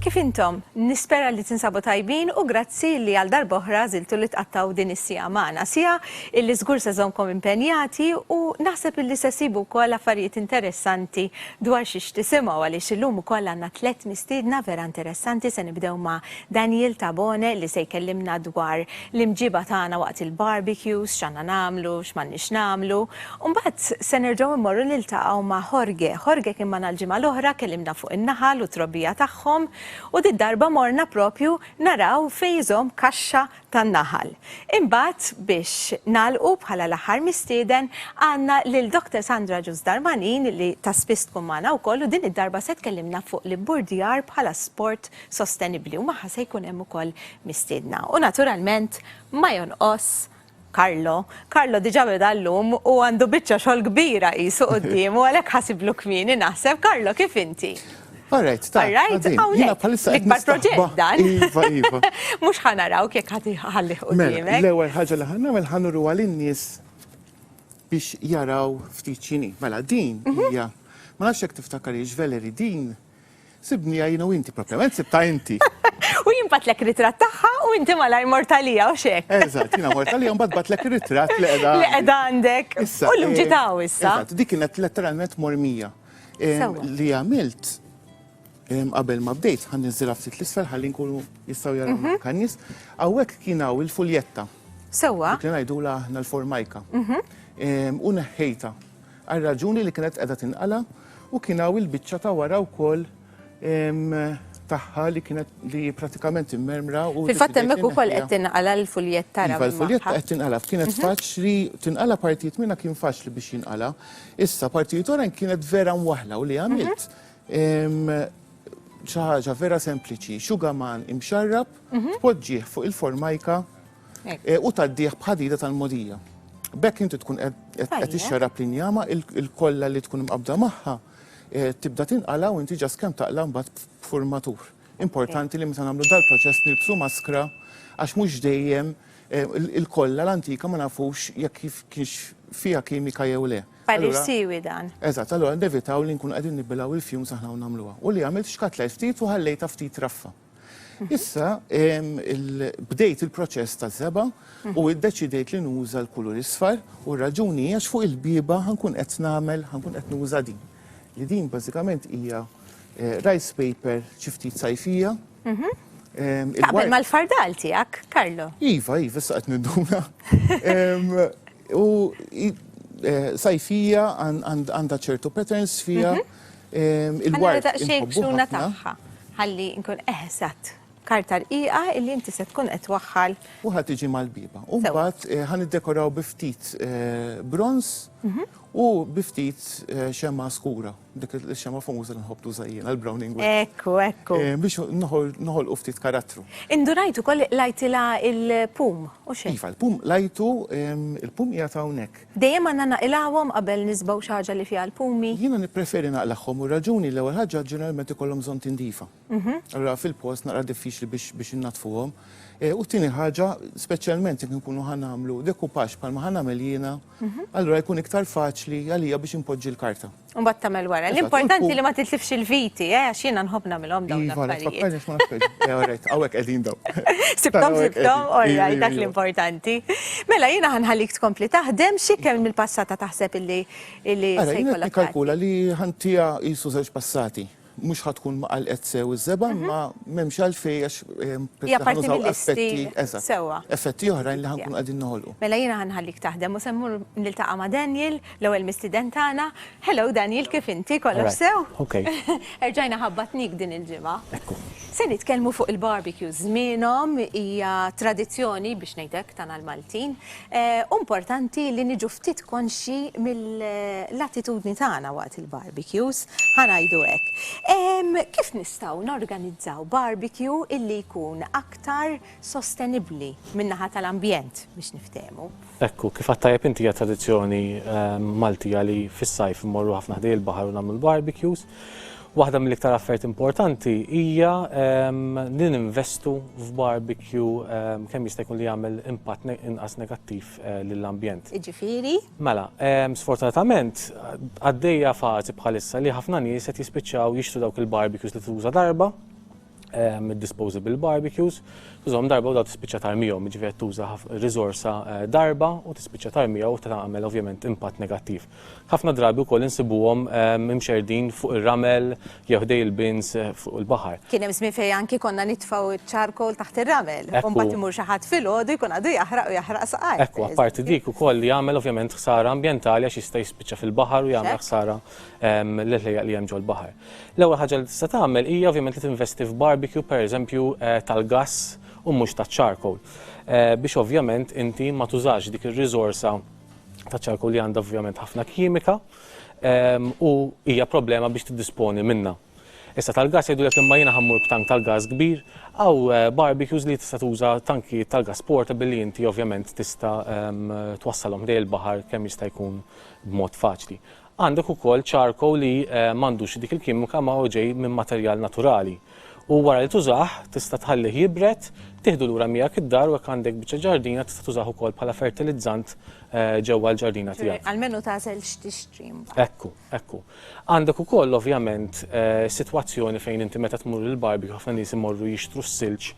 Kif intom? Nispera li tinsabu tajbin u grazzi li għal darboħra ziltu li tqattaw din is-sija magħna. Sija illi żgur se żomkom impenjati u naħseb illi se sibu wkoll affarijiet interessanti dwar xiex tisimgħu għaliex illum ukoll għandna tliet mistiedna vera interessanti se nibdew ma' Daniel Tabone li se jkellimna dwar l-imġiba tagħna waqt il-barbecues, x'għandna nagħmlu, x'm'għandniex nagħmlu. U mbagħad se nerġgħu mmorru niltaqgħu ma' Jorge. Jorge kien magħna l-ġimgħa l-oħra, kellimna fuq in-naħal u t-trobbija tagħhom, u did-darba morna proprju naraw fejn iżomm kaxxa tan-naħal. Imbagħad, biex nagħlqu bħala l-aħħar mistieden, għandna lil Doctor Sandra Ġus Darmanin li ta' spiss tkun magħna wkoll u din id-darba se tkellimna fuq l-ibburdjar bħala sport sostenibbli u magħha se jkun hemm ukoll mistiedna. U naturalment ma jonqos Carlo. Carlo diġà beda llum u għandu biċċa xogħol kbira qisu quddiemu għalhekk ħasiblu kmieni naħseb. Carlo kif inti? All right, ta. All right, hawnhekk. L-ikbar proġett dan. Iva, iva. Mhux ħa narawk jekk ħadd iħallih quddiemek. Mela, l-ewwel ħaġa li ħa nagħmel ħa nuru għal in-nies biex jaraw ftit x'inhi. Mela din hija ma nafx jekk tiftakar hiex veleri din Sibniha jiena u inti, propjament sibtha inti. U jien batlek ritratt tagħha u inti malajr mort għalija u x'hekk. Eżatt, jiena mort għalija u mbagħad batlek ir-ritratt li qiegħda għandi. Li qiegħda għandek. Issa. U llum ġiet hawn issa. Eżatt, dik kienet letteralment mormija. Sewwa. Li għamilt qabel ma bdejt, ħa ninżilha ftit 'l isfel ħalli nkunu jistgħu jarawna anke n-nies. Hawnhekk kien hawn il-fuljetta. Sewwa. Dik li ngħidulha aħna l-formajka. U neħħejtha. għar-raġuni li kienet qiegħda tinqala' u kien hawn il-biċċa ta' wara wkoll tagħha li kienet li hi pratikament immermra u Fil-fatt hemmhekk ukoll qed tinqala' l-fuljett tara Iva l-fuljett magħha. qed tinqala' kienet Mhm. faċli tinqala' partijiet minnha kien faċli biex jinqala'. Issa partijiet oħrajn kienet vera mwaħħla u li Mhm. għamilt ehm, xi ħaġa vera sempliċi, xugaman imxarrab Mhm. tpoġġih fuq il-formajka u tgħaddih b'ħadida tal-mogħdija. B'hekk inti tkun qed tixxarrab l-injama il-kollha li tkun mqabbda magħha eh, tibda tinqala u inti ġas kemm taqla mbagħad b'furmatur. Importanti li meta nagħmlu dal-proċess nilbsu maskra għax mhux dejjem eh, il-kollha l-antika ma nafux jekk kif kienx fiha kimika jew le. Parir siwi dan. Eżatt, allura nevitaw li nkunu qegħdin nibbilgħu il-fjum saħna u nagħmluha. U li għamilt xkat l ftit u ħallejta ftit raffa. Issa bdejt il-proċess ta' seba u iddeċidejt li nuża l-kulur isfar u r-raġuni għax fuq il-biba ħankun qed nagħmel ħankun qed nuża din. Li din bażikament hija eh, rice paper xi ftit sajfija. Mhm. Taqbel mal-fardal tiegħek, Karlo. Iva, iva, issa qed ninduna. U eh, sajfija għandha ċertu patterns fija. Mhm. Il-ward daqsxejn xuna tagħha ħalli nkun eħsat karta rqiqa illi inti se tkun qed waħħal. U ħad tiġi mal-biba. U mbagħad eh, ħan iddekoraw bi ftit eh, bronz mhm. u bi ftit eh, xema skura. Dik il-xema famuża li nħobb tuża jiena l-browning. Ekku, ekku. Biex noħol u ftit karattru. Indunajtu koll lajtila il-pum, u xejn. Iva, il-pum lajtu, il-pum jgħata hawnhekk. Dejjem għandna naqilgħuhom qabel nisbgħu xi ħaġa li fiha l-pumi? Jiena nippreferi naqlagħhom u r-raġuni l-ewwel ħaġa ġeneralment ikollhom bżonn tindifa. Allura fil-post naqra diffiċli biex biex innaddfuhom. U t-tieni ħaġa, speċjalment jekk inkunu ħa nagħmlu decoupage bħalma ħa nagħmel jiena, allura jkun iktar faċli għalija biex inpoġġi l-karta. Mbagħad tagħmel wara. L-importanti li ma titlifx il-viti, eh, għax jiena nħobb nagħmilhom dawn Iva, għalek, l-affarijiet. fakkarni x'ma nafx. Eh, alright, għawek qegħdin daw. Sibtom, Taraw hekk sibtom, qegħdin. orraj, Iva, dak iva. l-importanti. Mela, jiena ħanħallik tkompli taħdem, xi kemm mill-passata taħseb illi illi Ara, se jiena jkollok tagħti? nikkalkula li ħantija jisu żewġ passati. mhux ħa tkun ma qalqet sew iż-żebgħa mhm. ma m'hemmx għalfejn għax eh, effetti sewwa. Effetti oħrajn li ħankun qegħdin noħolqu. Mela jiena ħanħallik taħdem u semmur niltaqa' ma' Daniel, l-ewwel mistiden tagħna. Hello Daniel, kif inti kollox sew? Okay. Erġajna ħabbatnik din il-ġimgħa. Ekku. Se nitkellmu fuq il-barbecue żmienhom hija tradizzjoni biex ngħidek tagħna l-Maltin. Hu importanti li niġu ftit konxji mill-attitudni tagħna waqt il-barbecues, ħa ngħidu hekk. Kif nistgħu norganizzaw barbecue illi jkun aktar sostenibbli min-naħa tal-ambjent biex niftehmu? Ekku, kif għidt tajjeb inti hija tradizzjoni Maltija li fis-sajf immorru ħafna ħdejn il-baħar u nagħmlu l-barbecues. Waħda mill-iktar affarijiet importanti hija ehm, li ninvestu f'barbecue ehm, kemm jista' jkun li jagħmel impatt inqas negattiv eh, lill-ambjent. Iġifieri? Mela, ehm, sfortunatament għaddejja fażi bħalissa li ħafna nies qed jispiċċaw jixtru dawk il-barbecues li tuża darba disposable barbecues, tużhom darba u daw tispiċċa tarmijom, ġifieri tuża riżorsa eh, darba u tispiċċa tarmija u tagħmel ovvjament impatt negattiv. Ħafna drabi wkoll insibuhom ehm, imxerdin fuq ir-ramel jew ħdej il-bins eh, fuq il-baħar. Kien hemm żmien fejn anki konna nitfgħu ċ-charcoal taħt ir-ramel, u mbagħad imur xi ħadd filgħodu jkun għadu jaħraq u jaħraq saqaj. Ekku, apparti dik ukoll li jagħmel ovvjament ħsara ambjentali għax jista' jispiċċa fil-baħar u jagħmel ħsara ehm, l-ħlejjaq li hemm ġol-baħar. L-ewwel ħaġa li tista' tagħmel hija ovvjament li tinvesti f'barbecue pereżempju tal-gass u mhux taċ-charcoal. Biex ovvjament inti ma tużax dik ir-riżorsa taċ-charcoal li għandha ovvjament ħafna kimika u hija problema biex tiddisponi minnha. Issa tal-gass jgħidulek imma jiena ħammur b'tank tal-gass kbir, hawn barbecues li tista' tuża tankijiet tal-gass portable li inti ovvjament tista' twassalhom ħdejn il-baħar kemm jista' jkun b'mod faċli. Għandek ukoll charcoal li m'għandux dik il-kimika ma hu ġej minn materjal naturali. U wara li tużah, tista' tħallih jibred, tieħdu lura miegħek id-dar u jekk għandek biċċa ġardina tista' tużah ukoll bħala fertilizzant ġewwa l-ġardina tiegħek. Ċe, almenu tagħżel x'tixtri mbagħad. Ekku, ekku. Għandek ukoll ovvjament sitwazzjoni fejn inti meta tmur il-barbecue ħafna nies imorru jixtru s-silġ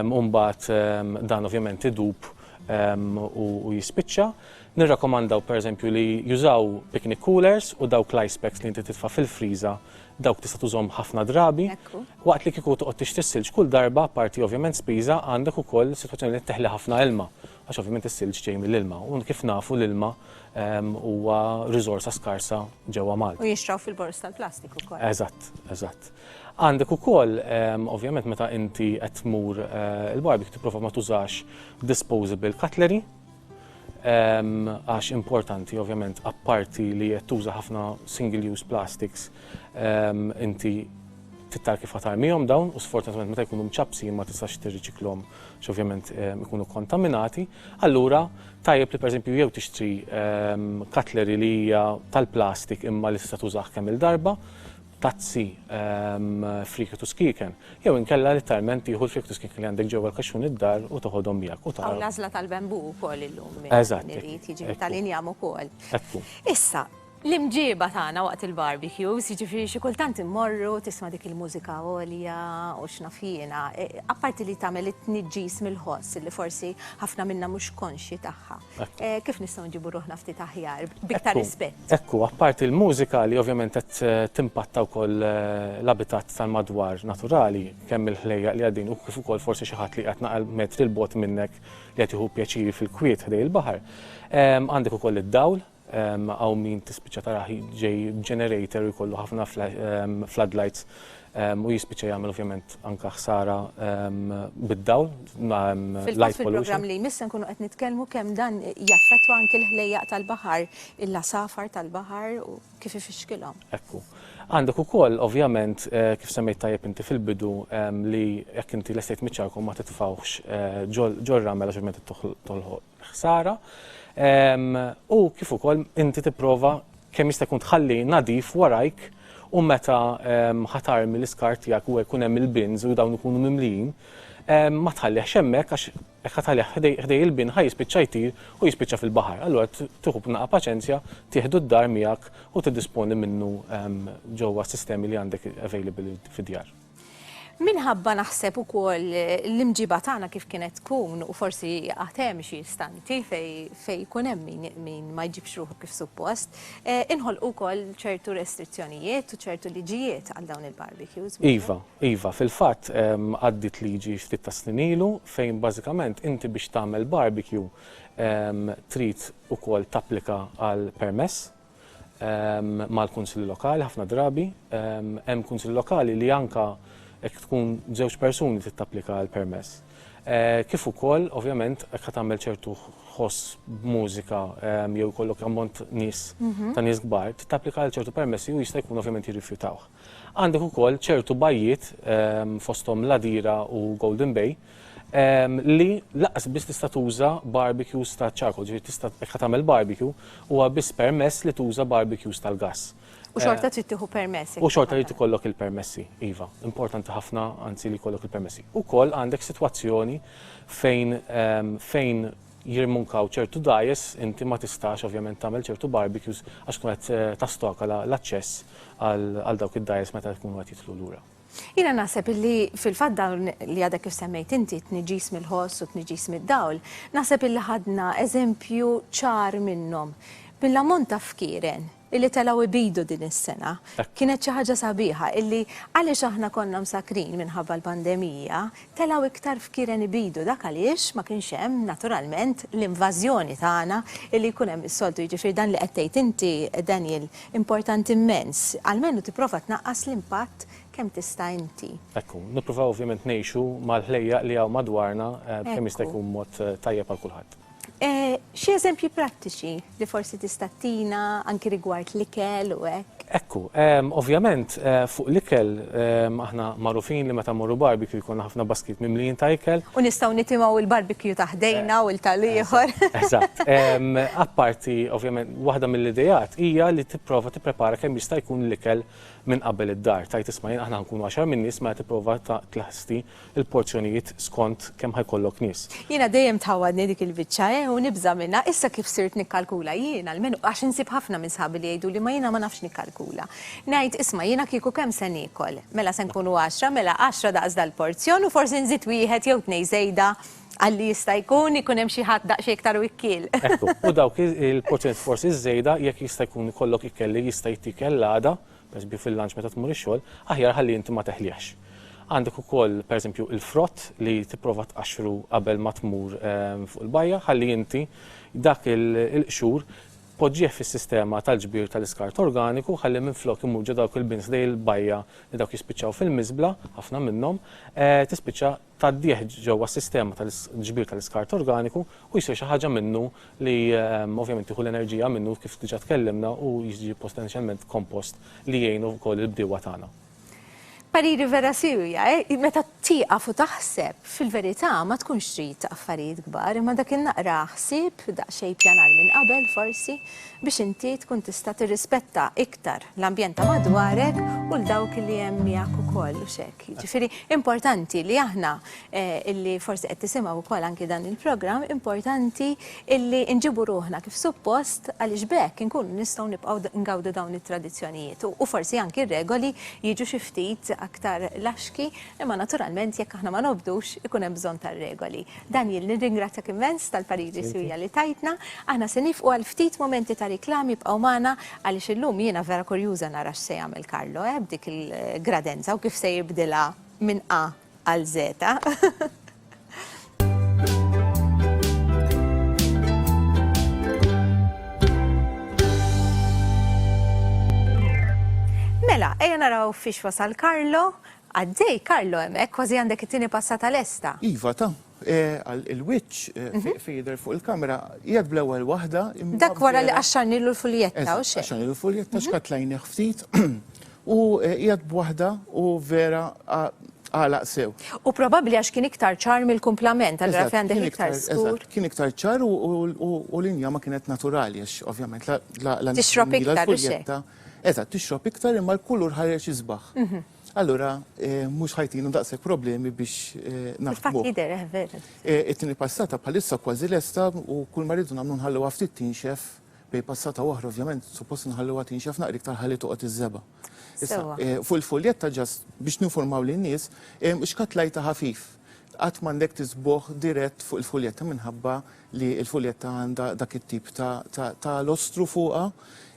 u mbagħad dan ovvjament idub u jispiċċa. Nirrakkomandaw pereżempju li jużaw picnic coolers u dawk l-ice packs li inti titfa' fil-friża dawk tista' tużhom ħafna drabi. Waqt li kieku toqgħod tixtri s-silġ kull darba, apparti ovvjament spiża, għandek ukoll sitwazzjoni li qed teħli ħafna ilma għax ovvjament is-silġ ġej mill-ilma u kif nafu l-ilma huwa riżorsa skarsa ġewwa Malta. U jinxtraw fil-boroż tal-plastik ukoll. Eżatt, eżatt. Għandek ukoll ovvjament meta inti qed tmur il-barbecue tipprova ma tużax disposable cutlery. għax importanti ovvjament apparti li qed tuża ħafna single use plastics inti tittar kif ħatarmihom dawn u sfortunatament meta jkunu mċapsi ma tistax tirriċiklhom x'ovvjament ikunu kontaminati. Allura tajjeb li pereżempju jew tixtri katleri li hija tal-plastik imma li tista' tużah kemm il-darba tazzi, friegħet u skieken, jew inkella litteralment tieħu l-friegħet u skieken li għandek ġewwa l-kaxxun id-dar u toħodhom miegħek u tara. Hawn l-għażla tal-bambù wkoll illum li jrid jiġi tal-injam ukoll. Ekku. Issa, l-imġieba tagħna waqt il-barbecues, jiġifieri xi kultant immorru tisma' dik il-mużika għolja u x'naf jiena, apparti li tagħmel it-tniġġis mill-ħoss li forsi ħafna minna mhux konxji tagħha. Kif nistgħu nġibu ruħna ftit aħjar, biktar rispett? Ekku, apparti l-mużika li ovvjament qed eh, timpatta wkoll eh, l-abitat tal-madwar naturali, kemm il-ħlejja li għaddin u kif ukoll forsi xi ħadd li qed naqal metri l-bot minnek li qed jieħu pjaċiri fil-kwiet ħdej il-baħar. Għandek ukoll id-dawl Hawn min tispiċċa tarah ġej b'generator u jkollu ħafna floodlights u jispiċċa jagħmel ovvjament anke ħsara bid-dawl, light pollution. Fil-programm li jmiss se nkunu qed nitkellmu kemm dan jaffettwa anke l-ħlejjaq tal-baħar, il-għasafar tal-baħar u kif ifixkilhom. Ekku. Għandek ukoll ovvjament kif semmejt tajjeb inti fil-bidu li jekk inti lestejt miċ-ċarku ma titfgħuhx ġol-ramel għax ovvjament tolħoq ħsara u kif ukoll inti tipprova kemm jista' jkun tħalli nadif warajk u meta ħatar mill-iskart tiegħek u jkun hemm il-bins u dawn ikunu mimlijin ma tħallih xemmek għax jekk ħatalih ħdej il-bin ħaj jispiċċa jtir u jispiċċa fil-baħar. Allura tieħu b'naqa paċenzja, tieħdu d-dar miegħek u tiddisponi minnu ġewwa sistemi li għandek available fid-djar. Minħabba naħseb ukoll l-imġiba tagħna kif kienet tkun u forsi għad hemm xi istanti fejn jkun hemm min ma jġibx ruħu kif suppost, eh, inħolqu wkoll ċertu restrizzjonijiet u ċertu liġijiet għal dawn il-barbecues. Iva, iva, fil-fatt ehm, għaddit liġi ftit ta' snin ilu fejn bażikament inti biex tagħmel barbecue ehm, trid ukoll tapplika għal permess mal-Kunsilli Lokali ħafna drabi. Hemm Kunsilli Lokali li anka jekk tkun żewġ persuni trid tapplika għal permess. Eh, kif ukoll, ovvjament, jekk tagħmel ċertu ħoss b'mużika jew kollok ammont nies mhm. ta' nies kbar, tapplika għal ċertu permessi u jista' jkun ovvjament jirrifjutawh. Għandek ukoll ċertu bajjiet fosthom Ladira u Golden Bay li laqqas biss tista' tuża barbecues ta' charcoal, ġifieri tista' jekk ħa tagħmel barbecue huwa biss permess li tuża barbecues tal-gass. U xorta trid tieħu permess. U xorta jrid ikollok il-permessi, iva. Importanti ħafna anzi li jkollok il-permessi. Ukoll għandek sitwazzjoni fejn fejn jirmunkaw ċertu dajes inti ma tistax ovvjament tagħmel ċertu barbecues għax tkun qed tastoka l-aċċess għal dawk id-dajes meta jkunu qed jidħlu lura. Jiena naħseb illi fil-fatt dawn li għadek kif semmejt inti t-tniġġis mill-ħoss u t-tniġġis mid-dawl, naħseb illi ħadna eżempju ċar minnhom mill-ammont ta' fkieren illi telgħu jbidu din is-sena. Kienet xi ħaġa sabiħa illi għaliex aħna konna msakkrin minħabba l-pandemija, telgħu iktar fkieren ibidu, dak għaliex ma kienx hemm, naturalment, l-invażjoni tagħna li jkun hemm is-soltu. Jiġifieri dan li qed tgħid inti, Daniel, importanti mmens. Almenu tipprova tnaqqas l-impatt kemm tista' inti. Ekku. Nippruvaw ovvjament ngħixu mal-ħlejjaq li hawn madwarna b'kemm jista' jkun mod tajjeb għal kulħadd. Xi eżempji prattiċi li forsi tista' ttina anki rigward l-ikel u hekk? Ekku, ovvjament fuq l-ikel aħna magħrufin li meta mmorru barbecue jkollna ħafna baskit mimlijin ta' ikel. U nistgħu nitimgħu l-barbecue ta' ħdejna u tal-ieħor. Eżatt. Apparti, ovvjament, waħda mill-ideat hija li tipprova tipprepara kemm jista' jkun l-ikel minn qabel id-dar. Tgħid isma' jien aħna ħankunu għaxar min-nies mela tipprova tlesti il-porzjonijiet skont kemm ħa jkollok nies. Jiena dejjem tħawwadni dik il-biċċa eh u nibża' minnha, issa kif sirt nikkalkula jien, almenu għax insib ħafna minn sħabi li jgħiduli ma jiena ma nafx nikkalkula. Ngħid, isma' jiena kieku kemm se niekol? Mela se nkunu għaxra, mela għaxra daqs dal-porzjon u forsi nżid wieħed jew tnej żejda għal li jista' jkun ikun hemm xi ħadd daqsxejn iktar wikkiel. Ekku, u dawk il-porzjonijiet forsi żejda jekk jista' jkun ikollok ikel li jista' jittiekel l-għada, Pereżempju fil-lunch meta tmur ix-xogħol, aħjar ħalli inti ma teħlihx. Għandek ukoll pereżempju il-frott li tipprova tqaxxru qabel ma tmur fuq il-bajja ħalli inti dak il-qxur poġġih fis-sistema tal-ġbir tal-iskart organiku ħalli minflok imur ġo dawk il-bins dej il-bajja li dawk jispiċċaw fil-miżbla, ħafna minnhom, tispiċċa tgħaddih ġewwa s-sistema tal-ġbir tal-iskart organiku u jsir xi ħaġa minnu li ovvjament tieħu l-enerġija minnu kif diġà tkellimna u jiġi potenzjalment kompost li jgħin ukoll il-bdiewa tagħna. Pariri vera siewja, meta tieqaf u taħseb, fil-verità ma tkunx trid affarijiet kbar, imma dak in-naqra ħsieb, daqsxejn ippjanar minn qabel forsi, biex inti tkun tista' tirrispetta iktar l-ambjent ta' madwarek u 'l dawk li hemm miegħek ukoll, hux hekk? Jiġifieri importanti li aħna illi forsi qed tisimgħu wkoll anki dan il-programm, importanti illi nġibu ruħna kif suppost għaliex b'hekk inkunu nistgħu nibqgħu ngawdu dawn it-tradizzjonijiet u forsi anki r-regoli jiġu xi ftit aktar laxki imma naturalment jekk aħna ma nobdux ikun hemm bżonn tar-regoli. Daniel, nirringrazzjak immens tal-pariri siwja li tajtna. Aħna se niefqu għal ftit mumenti ta' riklami ibqgħu magħna għaliex illum jiena vera kurjuża nara x'se jagħmel Carlo, eh, b'dik il-gradenza u kif se jibdilha minn A għal Z. Mela, ejja naraw fiex wasal Carlo Għaddej, Carlo, hemm, hekk kważi għandek it-tieni passata lesta. Iva, ta. Qal il-wiċċ, fejn jidher fuq il-kamera, qiegħed bl-ewwel waħda. Dak wara li qaxxarnilu l-fuljetta, u x'hemm? Qaxxarnilu l-fuljetta, xkatlajnih ftit, u qiegħed b'waħda u vera għalaq sew. U probabbli għax kien iktar ċar mill-kumplament, allura fejn għandek iktar skur. Kien iktar ċar u l-inja ma kienet naturali, għax ovvjament la. Tixrob iktar, u x'hekk. Eżatt, tixrob iktar imma l-kulur ħareġ isbaħ. Allura mhux ħajtinu daqshekk problemi biex naħdmu. Jidher eh, veru. It-tieni passata bħalissa kważi lesta u kull ma rridu nagħmlu nħalluha ftit tinxef bej passata oħra ovvjament suppost nħalluha tinxef naqri iktar ħalli toqgħod iż-żeba. Fuq il-fuljetta ġast biex ninformaw lin-nies, xkatlajta ħafif Qatt m'għandek tiżbugħ dirett fuq il-fuljetta minħabba li l-fuljetta għandha dak it-tip ta' ta' ta' lostru fuqha,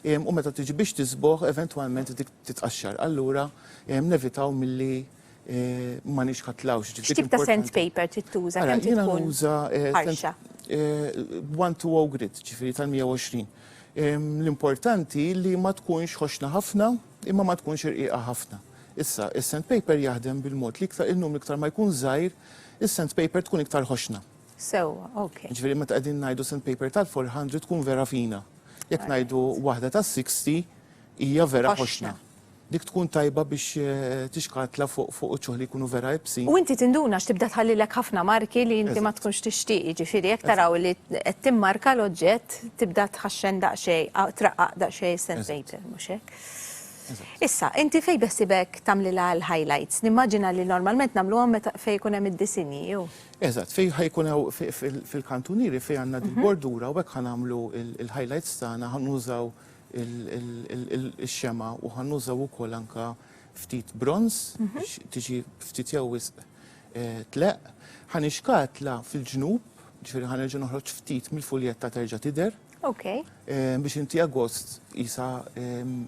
u meta tiġi biex tiżbugħ eventwalment dik titqaxxar. Allura nevitaw milli ma nixħatlhawx. Ġifieri X'tip ta' importanti sandpaper trid tuża? Ara, Kemm trid jiena tkun nuża eh, sand ħarxa? eh, one to o grit, ġifieri tal-120. L-importanti li ma tkunx ħoxna ħafna, Imma ma tkunx irqiqa ħafna. Issa, is-sandpaper jaħdem bil-mod li iktar in-numru iktar ma jkun żgħir, is-sandpaper tkun iktar ħoxna. Sewwa, ok. Jiġifieri meta qegħdin ngħidu sandpaper tal-400 tkun vera fina. Jekk ngħidu waħda tas-60 hija vera ħoxna. Dik tkun tajba biex tixkatla fuq fuq uċuħ li jkunu vera ibsin. U inti tinduna għax tibda tħallilek ħafna marki li inti ma tkunx tixtieq, jiġifieri jekk taraw li qed timmarka l-oġġett, tibda tħaxxen daqsxejn, traqqaq daqsxejn is-sand paper, mhux hekk? Issa, inti fejn beħsibek tagħmlilha l-highlights? Nimmaġina li normalment nagħmluhom meta fejn ikun hemm id-disinji, jew? Eżatt, fejn ħajkun hawn fil-kantunieri fejn għandna din bordura u hekk ħa nagħmlu l-highlights tagħna, ħa nużaw ix-xemgħa u ħa nużaw ukoll anke ftit bronż biex tiġi ftit jew wisq tleqq, ħa nixkatla fil-ġnub, ġifieri ħa nerġa' noħroġ ftit mill-fuljetta terġa' tidher. Ok. Eh, biex inti agost jisa ehm,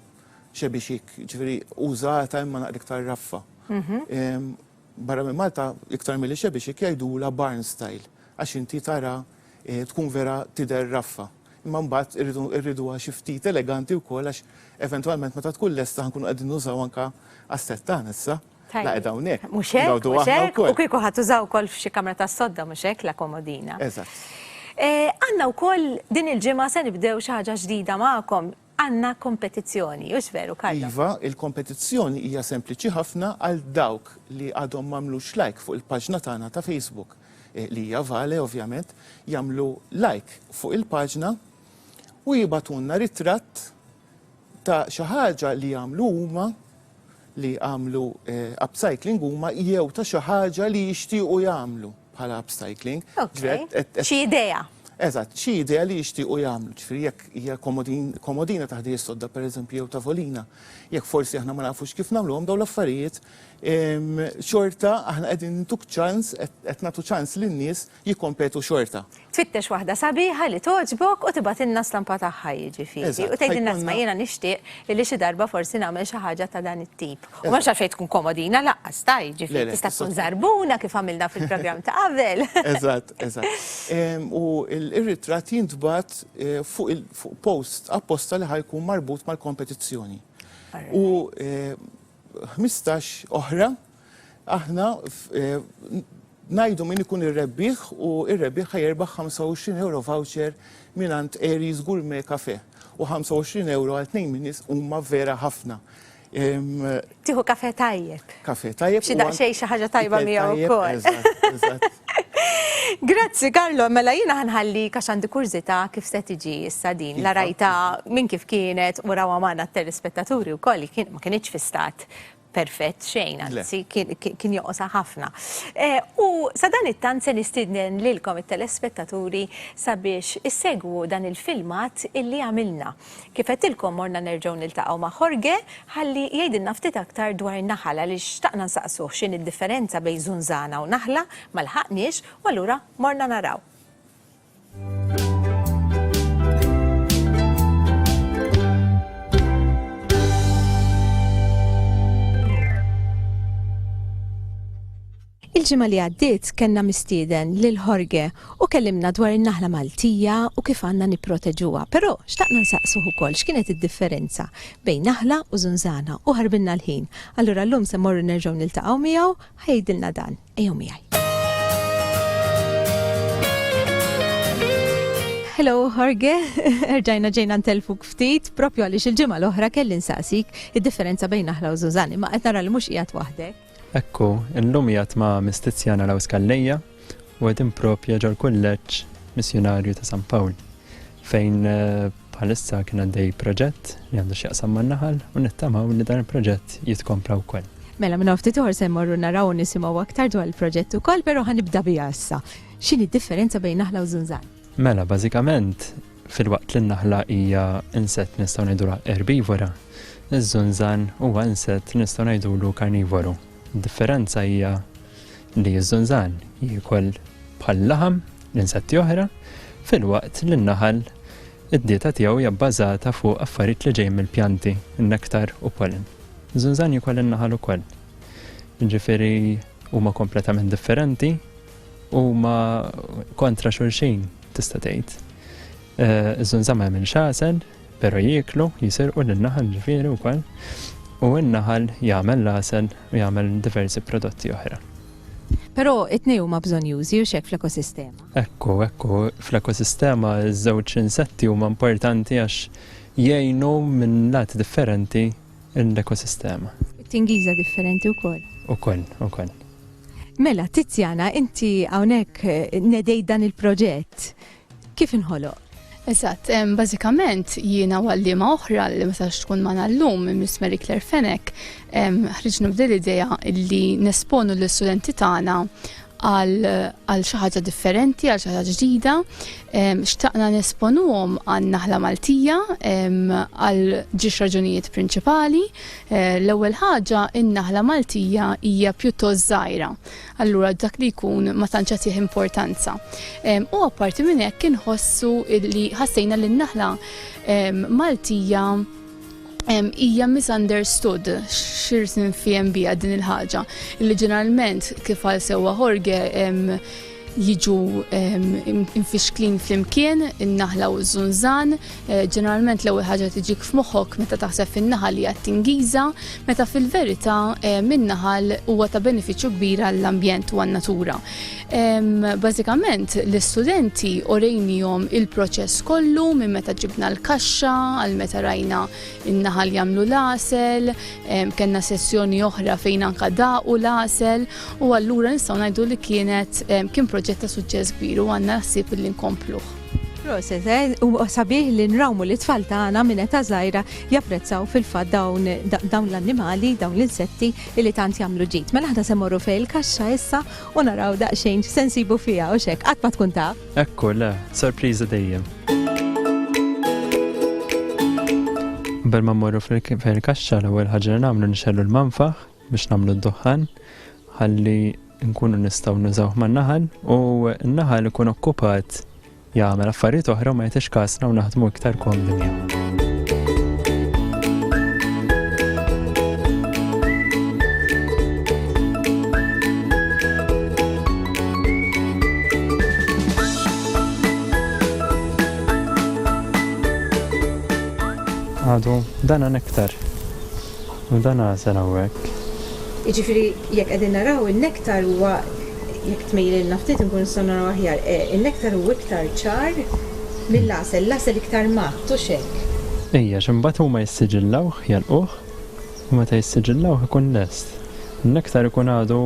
xebixik, ġifiri użata imma naqra iktar raffa. Mhm. Ehm, barra minn Malta, iktar mill xebixik jajdu la barn style, għax inti tara eh, tkun vera tider raffa. Imma mbagħad irridu għax ftit eleganti wkoll għax eventwalment meta tkun lesta ħankun qegħdin nużaw anka għas-settana issa. Tajjeb. Naqgħed hawnhekk. Mhux hekk, Ngawdu mhux aħna hekk, u wkoll. kieku ħa tużaw ukoll f'xi kamra tas-sodda mhux hekk la komodina. Eżatt. Għandna wkoll din il-ġimgħa se nibdew xi ħaġa ġdida magħkom, għandna kompetizzjoni, hux veru Carlo? Iva, il-kompetizzjoni hija sempliċi ħafna għal dawk li għadhom m'għamlux like fuq il-paġna tagħna ta' Facebook, li hija Vale ovvjament, jagħmlu like fuq il-paġna u jibgħatulna ritratt ta' xi ħaġa li jagħmlu huma, li għamlu upcycling huma jew ta' xi ħaġa li jixtiequ jagħmlu bħala upcycling. Xi idea. Eżatt, xi idea li jixtiequ jagħmlu, ġifieri jekk hija komodina ta' ħdejja sodda pereżempju jew tavolina, jekk forsi aħna ma nafux kif nagħmluhom dawn l-affarijiet, xorta aħna qegħdin intuk ċans, qed nagħtu ċans lin-nies jikkompetu xorta. Tfittex waħda sabiħa li togħġbok u tibgħatilna stampa tagħha jiġifieri u tgħidilna isma' jiena nixtieq illi xi darba forsi nagħmel xi ħaġa ta' dan it-tip. U m'hemmx għalfejn tkun komodina lanqas ta' jiġifieri tista' tkun żarbuna kif għamilna fil-programm ta' qabel. Eżatt, eżatt. U r-ritratt jintbagħat fuq post apposta li ħa jkun marbut mal-kompetizzjoni. U ħmistax oħra, aħna ngħidu min ikun ir-rebbieħ u r-rebbieħ ħa jerbaħ 25 euro voucher mingħand Aries Gourmet Cafe u 25 euro għal tnejn minn nies huma vera ħafna. Tieħu kafe tajjeb. Kafe tajjeb. Xi daqsxejn xi ħaġa tajba miegħu wkoll. Grazzi Karlo, mela jiena ħanħallik għax għandi kurzita kif se tiġi issa din la iva. rajta minn kif kienet u rawa magħna t-telespettaturi wkoll ma kinitx fi stat perfett xejn, anzi kien joqosa ħafna. E, u sa dan it-tant se nistidnen lilkom it-telespettaturi sabiex issegwu dan il-filmat illi għamilna. Kif għedtilkom morna nerġgħu niltaqgħu ma' Jorge ħalli jgħidilna ftit aktar dwar naħal għaliex xtaqna nsaqsuh x'inhi d-differenza bejn żunżana u naħla, ma lħaqniex u allura morna naraw. Il-ġimgħa li għaddiet kellna mistieden lil Jorge u kellimna dwar in-naħla Maltija u kif għandna nipproteġuha. Però xtaqna nsaqsuh ukoll x'kienet id-differenza bejn naħla u żunżana u ħarbilna l-ħin. Allura llum se mmorru nerġgħu niltaqgħu miegħu ħa jgħidilna dan. Ejjew miegħi. Hello Jorge, erġajna ġejna ntelfuk ftit, propju għaliex il-ġimgħa l-oħra kelli nsaqsik id-differenza bejn naħla u żunżan, imma qed nara li mhux qiegħed waħdek. Ekku, illum hija t-tma' Mistizzja naraw Scalleja u qegħdin propja ġol-Kulleġġ Missjunarju ta' San Pawl, fejn bħalissa kien għaddej proġett li għandu x'jaqsam man-naħal u nittamaw li dan il-proġett jitkompla wkoll. Mela minn ftit oħor se mmorru naraw u nisimgħu aktar dwar il-proġett ukoll, però ħanibda biha issa. X'inhi d-differenza bejn naħla u żunżan? Mela, bażikament, filwaqt li n-naħla hija insett nistgħu ngħidulha erbivora, iż-żunżan huwa insett nistgħu ngħidulu karnivoru. Id-differenza hija li ż-żunżan jiekol bħal laħam l-insetti oħra, filwaqt li n-naħal id-dieta tiegħu hija bbażata fuq affarijiet li ġejjin mill-pjanti, nektar u pollen. Żunżan jiekol in-naħal ukoll. Ġifieri huma kompletament differenti Huma kontra xulxin, tista' tgħid. Eh, Iż-żunżama jagħmel xasen, però jieklu, jisirqu lin-naħal ġifieri wkoll, u n-naħal jagħmel l-għasel u jagħmel diversi prodotti oħra. Però it-tnej huma bżonjużi u xek fl-ekosistema. Ekku, ekku, fl-ekosistema ż żewġ insetti huma importanti għax jgħinu minn lat differenti l-ekosistema. Tingiża differenti wkoll. Ukoll, ukoll. Mela, Tiziana, inti hawnhekk nedejt dan il-proġett. Kif inħoloq? Eżatt, bażikament jiena għallima oħra li ma sax tkun ma nallum Miss Mary Claire Fenek, ħriġna b'dil idea li nesponu l-istudenti tagħna għal xi ħaġa differenti, għal xi ħaġa ġdida. Xtaqna nesponuhom għan naħla Maltija għal ġiex raġunijiet prinċipali. Eh, l-ewwel ħaġa in-naħla Maltija hija pjuttost żgħira. Allura dak li jkun ma tantx tih importanza. U apparti minn hekk inħossu li ħassejna li n-naħla Maltija hija misunderstood x'ir tinfiehem biha din il-ħaġa. Li ġeneralment kif għal sewwa Jorge jiġu infixklin flimkien in-naħla u ż-żunżan, eh, ġeneralment l-ewwel ħaġa tiġik f'moħħok meta taħseb fin-naħal hija t-tingiża, meta fil-verità min-naħal huwa ta' benefiċċju kbir għall-ambjent u għan-natura. Bażikament l-istudenti orejnihom il-proċess kollu minn meta ġibna l-kaxxa għal meta rajna n-naħal jagħmlu l-għasel, kellna sessjoni oħra fejn anka daqu l-għasel u allura nistgħu ngħidu li kienet kien proġett ta' suċċess kbir u għandna ħsieb li nkompluh. Proset, eh? u sabiħ li nrawmu li tfal tagħna minn ta' żgħira japprezzaw fil-fatt dawn l-annimali, dawn l-insetti li tant jagħmlu ġid. Mela aħna se morru fejn il-kaxxa issa u naraw daqsxejn x'se nsibu fiha u x'hekk qatt ma tkun taf. Ekku le, sorpriżi dejjem. Qabel ma mmorru fejn kaxxa l-ewwel ħaġa li nagħmlu nixellu l-manfaħ biex nagħmlu d-duħħan ħalli nkunu nistgħu nużawh man-naħal u n-naħal ikun okkupat Jagħmel affarijiet oħra u ma jagħtix kasna u naħdmu iktar komdi miegħu. għadu dan għan iktar. U dan għażel hawnhekk. Jiġifieri jekk qegħdin naraw in-nektar huwa, jekk tmejjlilna ftit inkunu nistgħu naraw aħjar, in-nektar hu iktar ċar mill-għasel, l-għasel iktar mgħadd, hux hekk? Ejja, għax imbagħad huma jissiġillawh, jagħlquh, u meta jissiġillawh ikun lest. In-nektar ikun għadu,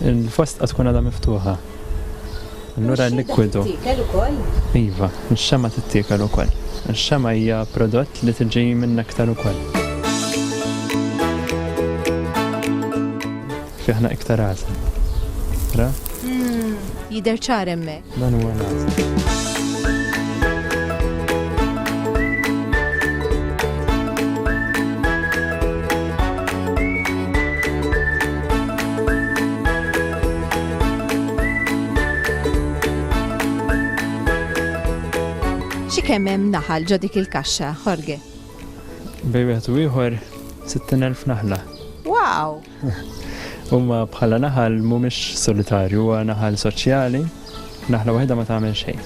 il-fosta tkun għadha miftuħa. Allura l-likwidu. Ix-xemgħa tittiekel ukoll? Iva, ix-xemgħa tittiekel ukoll. Ix-xemgħa hija prodott li tiġi min-nektar ukoll. Fi ħna iktar għasel. Ra? Jidher ċar hemmhekk. Dan huwa l-għasel. Xi kemm hemm naħal ġo dik il-kaxxa, Jorge? Bej wieħed u ieħor 60,000 naħla. Wow! Huma bħala naħal mhumiex solitarju, huwa naħal soċjali, naħla waħda ma tagħmel xejn.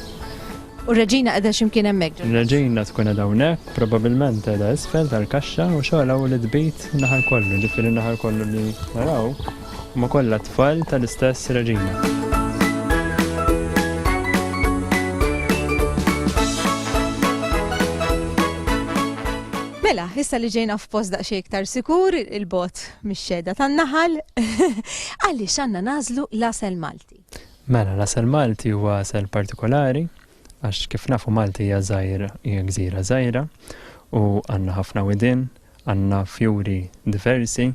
U r-Reġina qiegħda xi mkien hemmhekk? Ir-Reġina tkun qiegħda hawnhekk, probabbilment qiegħda isfel tal-kaxxa u xogħolha hu li tbid naħa lkoll, jiġifieri naħa lkoll li naraw huma kollha tfal tal-istess Reġina. Mela, issa li ġejna f'post daqsxejn iktar sikur, il-bot mix-xeda tan-naħal, għaliex għandna nażlu l-asel Malti. Mela, l-għasel Malti huwa għasel partikolari għax kif nafu Malti hija żgħir, hija gżira żgħira u għandna ħafna widien, għandna fjuri diversi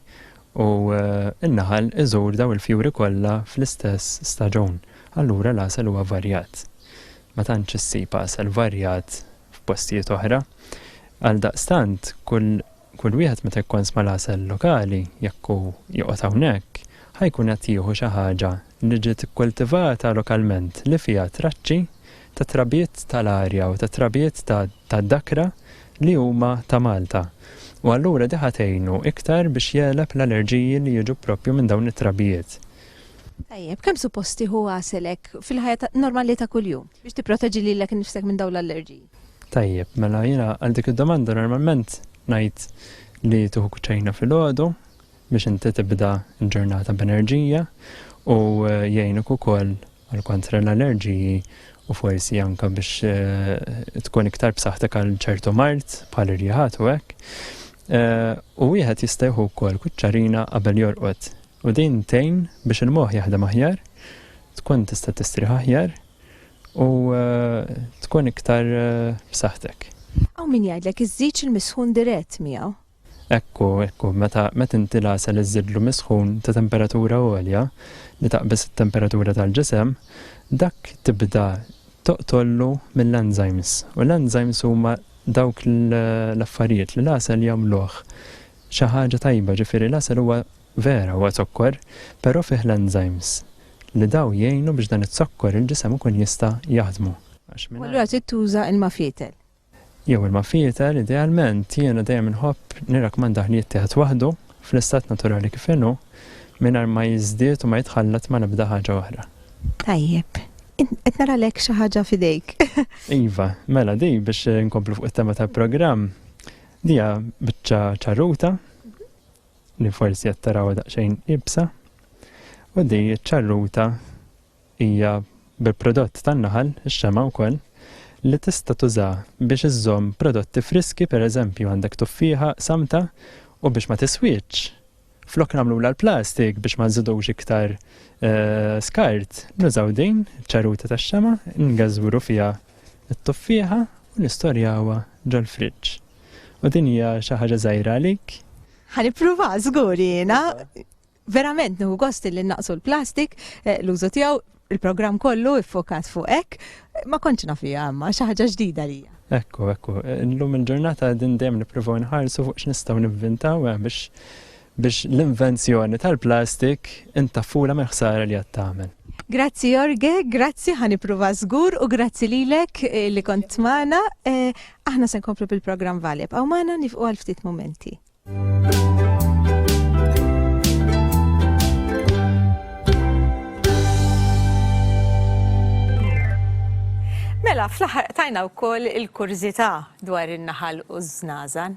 u eh, n-naħal iżur daw il-fjuri kollha fl-istess staġun. Allura l-għasel huwa varjat. Ma tantx issib għasel varjat f'postijiet oħra. Għal daqstant, kull Kull wieħed meta jkonsma l-għasel lokali, jekk hu joqgħod hawnhekk, ħa jkun qed jieħu xi ħaġa li ġiet ikkultivata lokalment li fiha traċċi ta' trabiet tal-arja u ta' trabiet ta' ta' dakra li huma ta' Malta. U allura di ħa tgħinu iktar biex jegħleb l-allerġiji li jiġu proprju minn dawn it-trabijiet. Tajjeb, kemm suppost tieħu għaselek fil-ħajja ta' normali ta' kuljum biex tipproteġi lilek innifsek minn dawn l-allerġiji? Tajjeb, mela jiena għal dik id-domanda normalment ngħid li tieħu kuċċejna filgħodu biex inti tibda l-ġurnata b'enerġija u eh, jgħinuk ukoll għal kontra l-allerġiji u forsi anka biex eh, tkun iktar b'saħħtek għal ċertu mart bħal irjaħat u hekk. Eh, u wieħed jista' jieħu wkoll kuċċarina qabel jorqod. U din tejn biex il-moħħ jaħdem aħjar, tkun tista' tistrieħ aħjar U tkun iktar b'saħħtek. Hawn min jgħidlek iżżidx il-misħun dirett miegħu. Ekku, ekku, meta meta inti l-għasel iżidlu misħun ta' temperatura għolja li taqbes it-temperatura tal-ġisem, dak tibda toqtollu mill-enzymes. U l-enzymes huma dawk l-affarijiet li l-għasel jagħmluh xi ħaġa tajba, ġifieri l-għasel huwa Vera huwa zokkor, però fih l-enzymes li daw jgħinu biex dan iz-zokkor il-ġisem ikun jista' jaħdmu. U allura trid tuża ilma fietel. Jew ilma fietel idealment, jiena dejjem inħobb nirrakmandah li jittieħed waħdu, fl-istat naturali kif inhu, mingħajr ma jiżdied u ma jitħallat ma' l-ebda ħaġa oħra. Tajjeb. Qed nara lek xi ħaġa f'idejk. Iva, mela di biex inkomplu fuq it-tema tal-programm, di hija biċċa ċarruta, li forsi qed taraw daqsxejn ibsa u di ċ-ċarruta hija bil-prodott tan-naħal, ix-xema wkoll, li tista' tuża biex iżżomm prodotti friski, pereżempju għandek tuffieħa samta u biex ma tiswitx. Flok nagħmlu l-plastik biex ma nżidux iktar eh, skart, nużaw din ċaruta tax-xema, ngażwru fiha t-tuffieħa u nistorjawha ġol-friġġ. U din hija xi ħaġa żgħira għalik? Ħa nippruva żgur jiena. Verament nieħu gost li naqsu l-plastik, eh, l-użu tiegħu, il-programm kollu iffokat fuq hekk, ma kontx nafija imma xi ħaġa ġdida lija. Ekku, ekku, illum il-ġurnata din dejjem nippruvaw nħarsu fuq x'nistgħu nivvintaw eh, biex biex l-invenzjoni tal-plastik intaffulha mill-ħsara li qed tagħmel. Grazzi Jorge, grazzi ħa nippruva żgur u grazzi lilek eh, li kont magħna. Eh, aħna se nkomplu bil-programm Valib, għaw magħna nifqu għal ftit momenti. Mela, fl-aħħar tajna wkoll il-kurżità dwar in-naħal u z-znazan.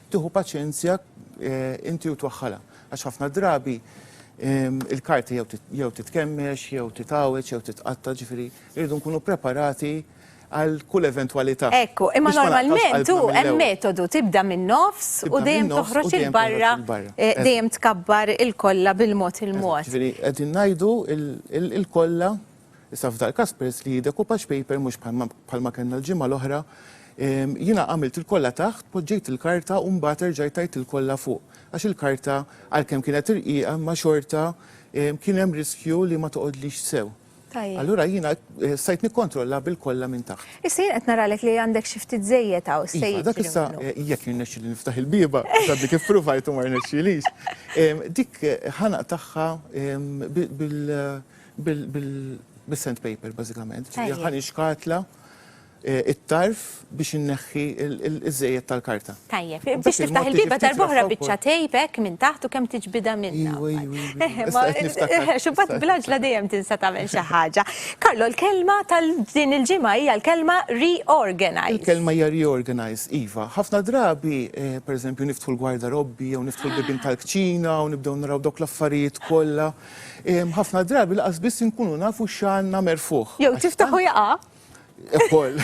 tieħu paċenzja inti u twaħħalha għax ħafna drabi il-karta jew titkemmex, jew titgħawweġ, jew titqatta' ġifieri rridu nkunu preparati għal kull eventwalità. Ekku, imma normalment hu hemm metodu tibda min-nofs u dejjem toħroġ il-barra dejjem tkabbar il-kollha bil-mod il-mod. Ġifieri qegħdin ngħidu il-kollha Issa f'dal-każ peress li hi decoupage paper mhux bħalma kellna l-ġimgħa l-oħra, jiena għamilt il-kollha taħt, poġġejt il-karta u mbagħad erġajt għidt il-kollha fuq għax il-karta għalkemm kienet irqiqa imma xorta kien hemm riskju li ma toqgħodlix sew. Allura jiena stajt nikkontrolla bil-kollha minn taħt. Issa jien qed naralek li għandek xi ftit żejjed hawn, se jiġri minnu. Iva, dak issa jekk jirnexxieli niftaħ il-bieba, għax għadni kif pruvajt u ma rnexxielix, dik ħa naqtagħha bil, Bis-sandpaper bażikament, ġifieri ħa nixkatla eh, it-tarf biex inneħħi iż-żejjed tal-karta. Tajjeb, biex tiftaħ il-biba darb'oħra biċċa tejbek minn taħt u kemm tiġbidha minna. Xubbat blaġla dejjem tinsa tagħmel xi ħaġa. Karlo, l-kelma tal-din il-ġimgħa hija l-kelma reorganize. Il-kelma hija reorganize, iva. Ħafna drabi, eh, pereżempju, niftħu l-gwarda robbi jew niftħu l-bibin tal-kċina u nibdew naraw dawk l-affarijiet kollha Ħafna drabi laqas biss inkunu nafu x'għandna merfugħ. Jew tiftaħ u jaqa'. Ukoll.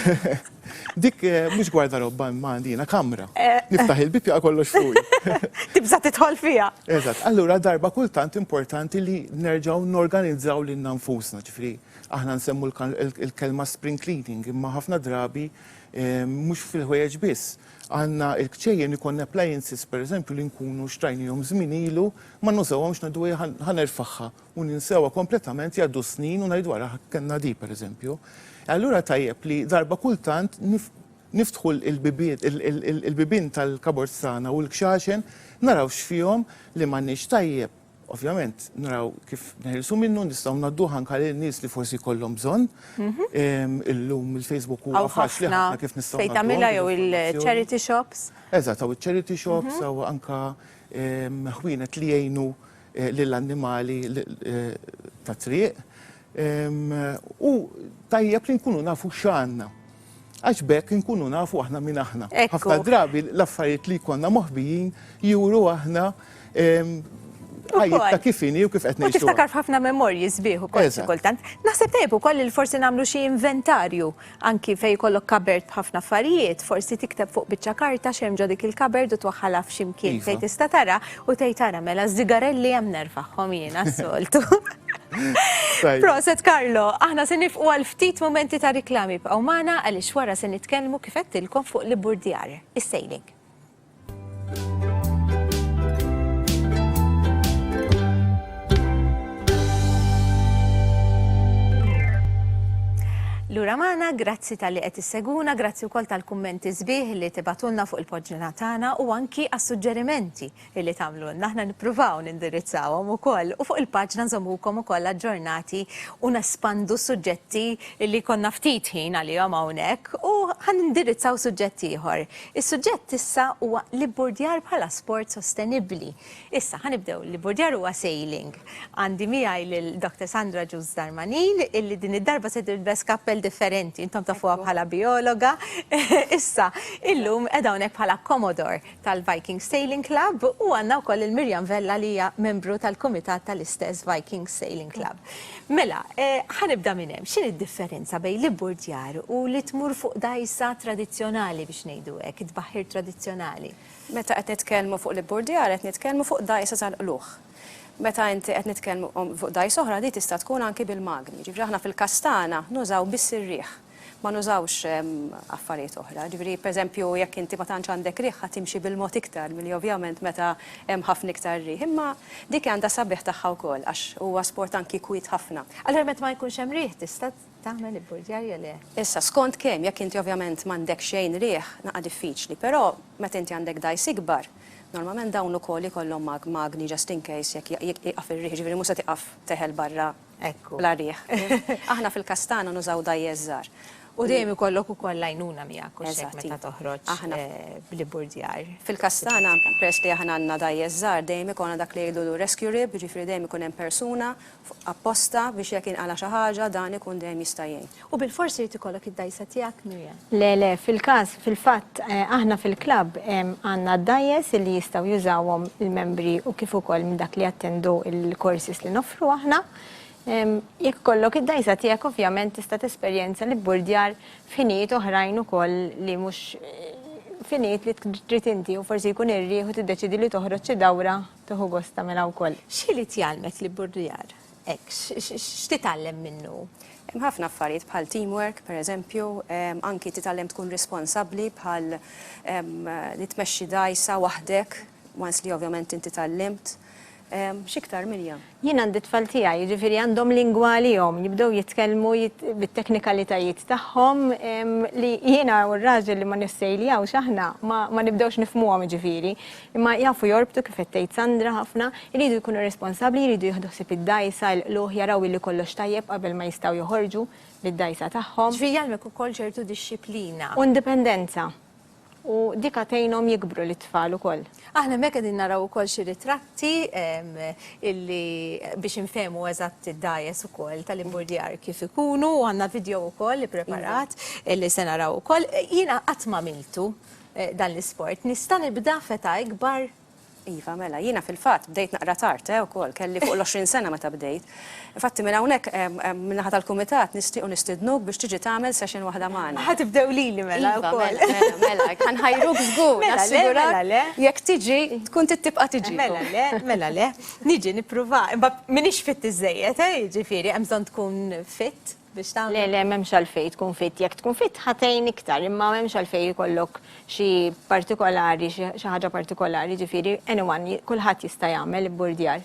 Dik eh, mhux gwarda robba imma għandina kamra. Eh. Niftaħ il-bib jaqa' kollox fuq. Tibża' tidħol fiha. Eżatt, allura darba kultant importanti li nerġgħu norganizzaw lil nfusna, ġifri aħna nsemmu l-kelma spring cleaning imma ħafna drabi eh, mhux fil-ħwejjeġ biss. Għandna l-kċejjen ikollna appliances pereżempju li nkunu xtrajnihom żmien ilu, ma nużawhomx ngħidu ejja ħa nerfagħha u ninsewha kompletament jgħaddu s-snin u ngħidu ara kellna di pereżempju. E allura tajjeb li darba kultant niftħu l-bibien tal-cupboards tagħna u l-kxaxen naraw x'fihom li m'għandniex tajjeb. Ovvjament, naraw kif neħilsu minnu, nistgħu ngħadduh anke lil nies li forsi jkollhom bżonn. Illum il-Facebook huwa faċli ħafna kif nistgħu. Fejn tagħmilha jew il-charity shops. Eżatt, hawn iċ-charity shops, hawn anke ħwienet li jgħinu lill-annimali tat-triq. U tajjeb li nkunu nafu x'għandna. Għax b'hekk inkunu nafu aħna min aħna. Ħafna drabi l-affarijiet li jkollna moħbijin juru aħna ħajjitna kif inhi u kif qed ngħixu. Tiftakar f'ħafna memorji sbieħ ukoll kultant. Naħseb tajjeb ukoll li forsi nagħmlu xi inventarju Anki fejn jkollok cupboard b'ħafna affarijiet, forsi tikteb fuq biċċa karta x'hemm ġo dik il-cupboard u twaħħalha f'xi mkien fejn tista' tara u tgħid ara mela ż-żigarelli hemm nerfagħhom jiena s-soltu. Proset Carlo! Aħna se nifqu għal ftit mumenti ta' riklami, ibqgħu magħna għaliex wara se nitkellmu kif għedtilkom fuq l-ibburdjar, is-sailing. Lura magħna, grazzi tal-li qed isseguna, grazzi wkoll tal-kummenti sbieħ li tibatulna fuq il-poġġina tagħna u anki għas-suġġerimenti li tagħmlulna. Aħna nippruvaw nindirizzawhom ukoll u fuq il-paġna nżommukom ukoll aġġornati u nespandu suġġetti li konna ftit ħin għalihom hawnhekk u ħan indirizzaw suġġett ieħor. Is-suġġett issa huwa l-ibburdjar bħala sport sostenibbli. Issa ħa nibdew, l-ibburdjar huwa sailing. Għandi miegħi lil Doctor Sandra Juss Darmanin illi din id-darba se tilbes kappell differenti, intom tafuha bħala bijologa. Issa, illum qiegħda hawnhekk bħala Commodore tal-Viking Sailing Club u għandna wkoll lil Miriam Vella li hija membru tal-kumitat tal-istess Viking Sailing Club. Mela, ħa nibda minn hemm, x'inhi d-differenza bejn l-ibburdjar u li tmur fuq dgħajsa tradizzjonali biex ngħidu hekk, it-tbaħħir tradizzjonali? Meta qed nitkellmu fuq l-ibburdjar qed nitkellmu fuq dgħajsa tal-qlugħ. Meta inti qed nitkellmu fuq dgħajsa oħra di tista' tkun anki bil-magni. Jiġifieri aħna fil-każ tagħna nużaw biss ir-riħ. ma nużawx affarijiet oħra. Ġifieri, pereżempju, jekk inti ma tantx għandek riħ ħa timxi bil-mod iktar milli ovvjament meta hemm ħafna iktar riħ. Imma dik għandha s-sabiħ tagħha wkoll għax huwa sport anki kwiet ħafna. Allura meta ma jkunx hemm riħ tista' tagħmel ibburdjar jew le? Issa, skont kemm, jekk inti ovvjament m'għandek xejn riħ naqa' diffiċli, però meta inti għandek dgħajs ikbar, normalment dawn ukoll ikollhom magni just in case jekk jieqaf ir-riħ, ġifieri mhux se tieqaf teħel barra Ekku. Bla riħ. Aħna fil-Kastana nużaw dgħajjes żgħar. U dejjem ikollok ukoll l-għajnuna miegħek u x'hekk meta toħroġ bl-ibburdjar. Fil-Kastana, peress li aħna għandna dgħajjes żgħar, dejjem ikollna dak li jgħidulu rescue rib, jiġifieri dejjem ikun hemm persuna apposta biex jekk jinqala' xi ħaġa dan ikun dejjem jista' jgħin. U bilfors irid ikollok id-dgħajsa tiegħek, Miriam? Le, le, fil-każ, fil-fatt, aħna fil-klabb għandna d-dgħajjes li jistgħu jużawhom il-membri u kif ukoll minn dak li jattendu l-courses li noffru aħna. Jekk ikollok id-dgħajsa tiegħek ovvjament tista' tesperjenza l-ibburdjar f'ħinijiet oħrajn ukoll li mhux f'ħinijiet li trid inti u forsi jkun ir-riħ u tiddeċiedi li toħroġ xi dawra tieħu gost tagħmilha wkoll. X'ħiliet jgħallmek l-ibburdjar? Hekk, x'titgħallem minnu? Hemm ħafna affarijiet bħal teamwork, per eżempju, anki titgħallem tkun responsabbli bħal li tmexxi dgħajsa waħdek, once li ovvjament inti tgħallimt. X'iktar, Miriam? Jien għandi t-tfal tiegħi, jiġifieri għandhom lingwa għalihom, jibdew jitkellmu bit-teknikalitajiet tagħhom li jiena u r-raġel li ma nissejljawx aħna ma nibdewx nifhmuhom jiġifieri. Imma jafu jorbtu kif qed tgħid Sandra ħafna, iridu jkunu responsabbli, jridu jieħdu ħsieb id-dgħajsa, il-qlugħ, jaraw illi kollox tajjeb qabel ma jistgħu joħorġu bid-dgħajsa tagħhom. Ġifieri jgħallmek ukoll ċertu dixxiplina. U indipendenza. U dik għad tgħinhom jikbru lit-tfal ukoll. Aħna hemmhekk qegħdin naraw ukoll xi ritratti illi biex infehmu eżatt id-dgħajjes ukoll tal-imburdjar kif ikunu u għandna vidjow ukoll ippreparat illi se naraw ukoll. Jiena qatt m'għamiltu. dan l-isport. Nista' nibda f'età ikbar? Iva, mela, jiena fil-fatt bdejt naqra tard, eh, ukoll, kelli fuq l-għoxrin sena meta bdejt. Infatti minn hawnhekk, min-naħa tal-Kumitat, nixtiequ nistidnuk biex tiġi tagħmel session waħda magħna. Ħa tibdew lili mela wkoll. Iva, mela, mela, mela, ħa nħajruk żgur, nassigurak. Mela le, jekk tiġi, tkun trid tibqa' tiġi. Mela le, mela le, niġi, nipprova. Imbagħad m'iniex fit iżżejjed, eh, jiġifieri, hemm bżonn tkun fit. biex tagħmel. Le, le, m'hemmx għalfejn tkun fit. Jekk tkun fit ħa tgħin iktar, imma m'hemmx għalfejn ikollok xi partikolari, xi ħaġa partikolari, jiġifieri anyone, kulħadd jista' jagħmel ibburdjar.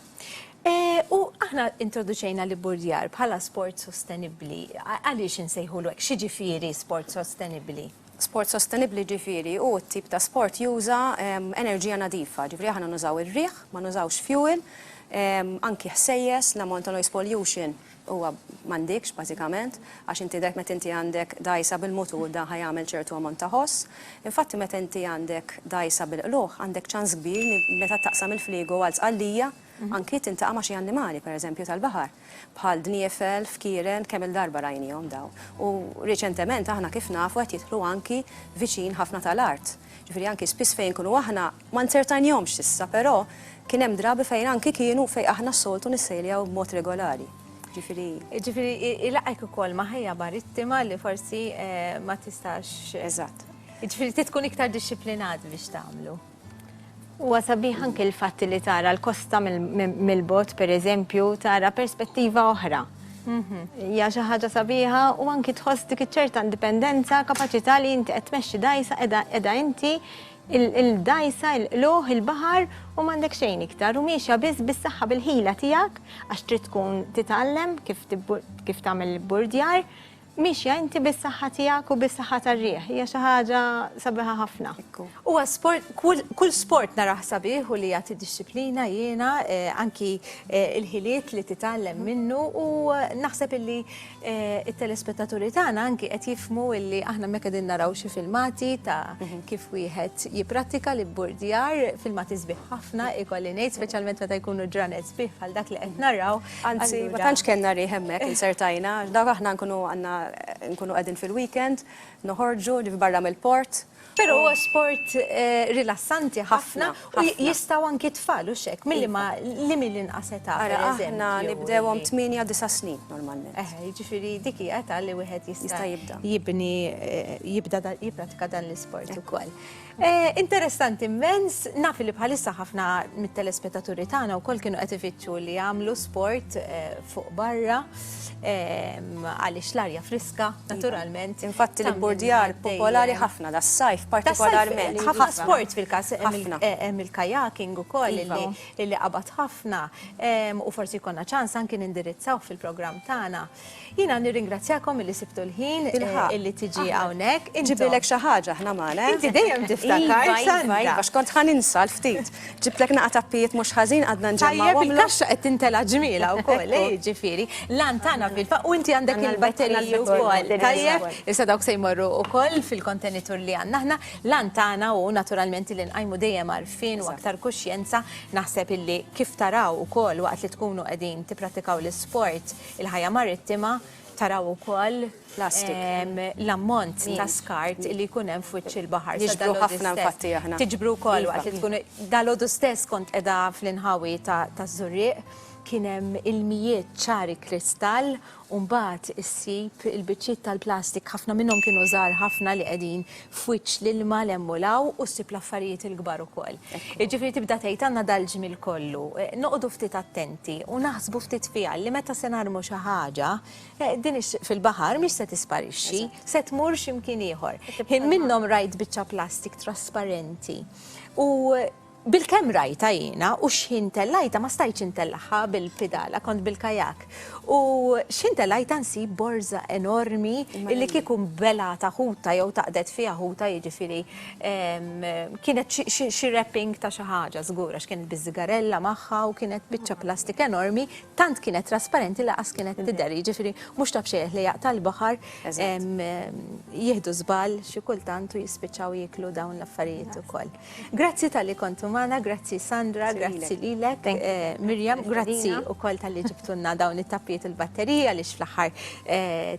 U aħna introduċejna l-ibburdjar bħala sport sostenibbli. Għaliex insejħulu hekk? X'jiġifieri sport sostenibbli? Sport sostenibbli jiġifieri hu t-tip ta' sport juża enerġija nadifa, jiġifieri aħna nużaw ir-riħ, ma nużawx fuel, anki ħsejjes, l-amount ta' noise pollution huwa m'għandikx bażikament, għax inti dgħajf meta inti għandek dgħajsa bil-mutur dan ħa jagħmel ċertu ammont ta' ħoss. Infatti meta inti għandek dgħajsa bil-qlugħ għandek ċans kbir li meta taqsam il-fliegu għal sqallija anki tintaqa' ma' xi annimali pereżempju tal-baħar bħal dniefel, fkieren, kemm-il darba rajnihom dawn. U riċentement aħna kif nafu qed jidħlu anki viċin ħafna tal-art. Ġifieri anki spiss fejn inkunu aħna, Ma nzertajnihomx s'issa, però kien hemm drabi fejn anki kienu fejn aħna s-soltu nissejljaw b'mod regolari. Ġifieri. Ġifieri ilaqgħek ukoll ma' ħajja marittima li forsi ma tistax. Eżatt. Ġifieri trid tkun iktar dixxiplinat biex tagħmlu. Huwa sabiħ anki l-fatt li tara l-kosta mill-bogħod pereżempju, tara perspettiva oħra. Hija xi ħaġa sabiħa u anki tħoss dik iċ-ċerta indipendenza, kapaċità li inti qed tmexxi dgħajsa qiegħda inti il-dgħajsa, il-qlugħ, il-baħar u m'għandek xejn iktar u miexja biss bis-saħħa bil-ħila tiegħek għax trid tkun titgħallem kif tagħmel l-ibburdjar, miexja inti bis-saħħa tiegħek u bis-saħħa tar-riħ, hija xi ħaġa sabiħa ħafna. Huwa sport, kull sport narah sabiħ u li jagħti dixxiplina jiena anki l-ħiliet li titgħallem minnu u naħseb illi It-telespettaturi tagħna anki qed jifhmu illi aħna mek qegħdin naraw xi filmati ta' mhm. kif wieħed jipprattika li burdjar filmati sbieħ ħafna ikolli ngħid speċjalment meta jkunu ġranet sbieħ bħal dak li qed naraw. Anzi, ma tantx kellna rih hemmhekk insertajna, dawk aħna nkunu għandna nkunu qegħdin fil-weekend, noħorġu li barra mill-port Però huwa sport rilassanti ħafna u jistgħu anki t-tfal u x'hekk, milli ma li milli inqas età. Ara aħna nibdewhom tmienja disa' snin normalment. Eħe, jiġifieri dik hi età li wieħed jista' jibda jibni jibda jipprattika dan l-isport ukoll. Interessanti mmens, naf li bħalissa ħafna mit-telespettaturi tagħna wkoll kienu qed ifittxu li jagħmlu sport fuq barra għaliex l-arja friska. friska, iva. naturalment. Infatti li bordjar popolari ħafna da sajf partikolarment. Ħafna sport fil-kas hemm il-kajaking ukoll iva. li qabad ħafna u forsi jkollna ċans anki nindirizzaw fil-programm tagħna. Jiena nirringrazzjakom illi sibtu l-ħin illi tiġi hawnhekk. Ġibilek xi ħaġa ħna magħna. Inti dejjem tiftakar. Iva, iva, iva, xkont ħaninsa l-ftit. Ġibtlek naqa' tappijiet mhux ħażin għadna nġemmgħuhom. Tajjeb il-kaxxa qed tintela' ġmielha wkoll, jiġifieri. L-għan tagħna fil-fatt u inti għandek il-batteriji wkoll. Tajjeb, issa dawk se jmorru wkoll fil-kontenitur li għandna aħna. L-għan tagħna hu naturalment li nqajmu dejjem għarfien u aktar kuxjenza. Naħseb illi kif taraw ukoll waqt li tkunu qegħdin tipprattikaw l-isport, il-ħajja marittima, taraw ukoll, plastik. l-ammont ta' skart li jkun hemm f'wiċċ il-baħar. Niġbru ħafna infatti aħna. Tiġbru wkoll waqt li tkunu. Dalgħodu stess kont qiegħda fl-inħawi taż-Żurrieq, kien hemm ilmijiet ċari kristall u mbagħad issib il-biċċiet tal-plastik ħafna minnhom kienu żgħar ħafna li qegħdin f'wiċċ l-ilma 'l hemm u 'l hawn u ssib l-affarijiet il-kbar ukoll. Jiġifieri tibda tgħid għandna dal-ġmiel kollu. Noqogħdu ftit attenti u naħsbu ftit fiha li meta se narmu xi ħaġa, Din ix, fil-baħar mhix se tisparixxi, se tmur xi mkien ieħor. Ħin minnhom rajt biċċa plastik trasparenti u bil-kemm rajta jiena u x'ħin tellajta ma stajtx intellagħha bil-pidala kont bil-kajak. U x'ħin tellajta nsib borża enormi li kieku belgħatha ħuta jew taqdet fiha ħuta jiġifieri kienet xi wrapping ta' xi ħaġa żgur għax kienet biż-żigarella magħha u kienet biċċa plastik enormi Tant kienet trasparenti li qas kienet tidher, jiġifieri mhux ta' bxejjeħ li jaqta' l-baħar jieħdu żball xi kultant u jispiċċaw jieklu dawn l-affarijiet ukoll. Grazzi talli kontu magħna, grazzi Sandra, grazzi lilek Miriam, grazzi wkoll talli ġibtulna dawn it-tappijiet u l-batteriji għaliex fl-aħħar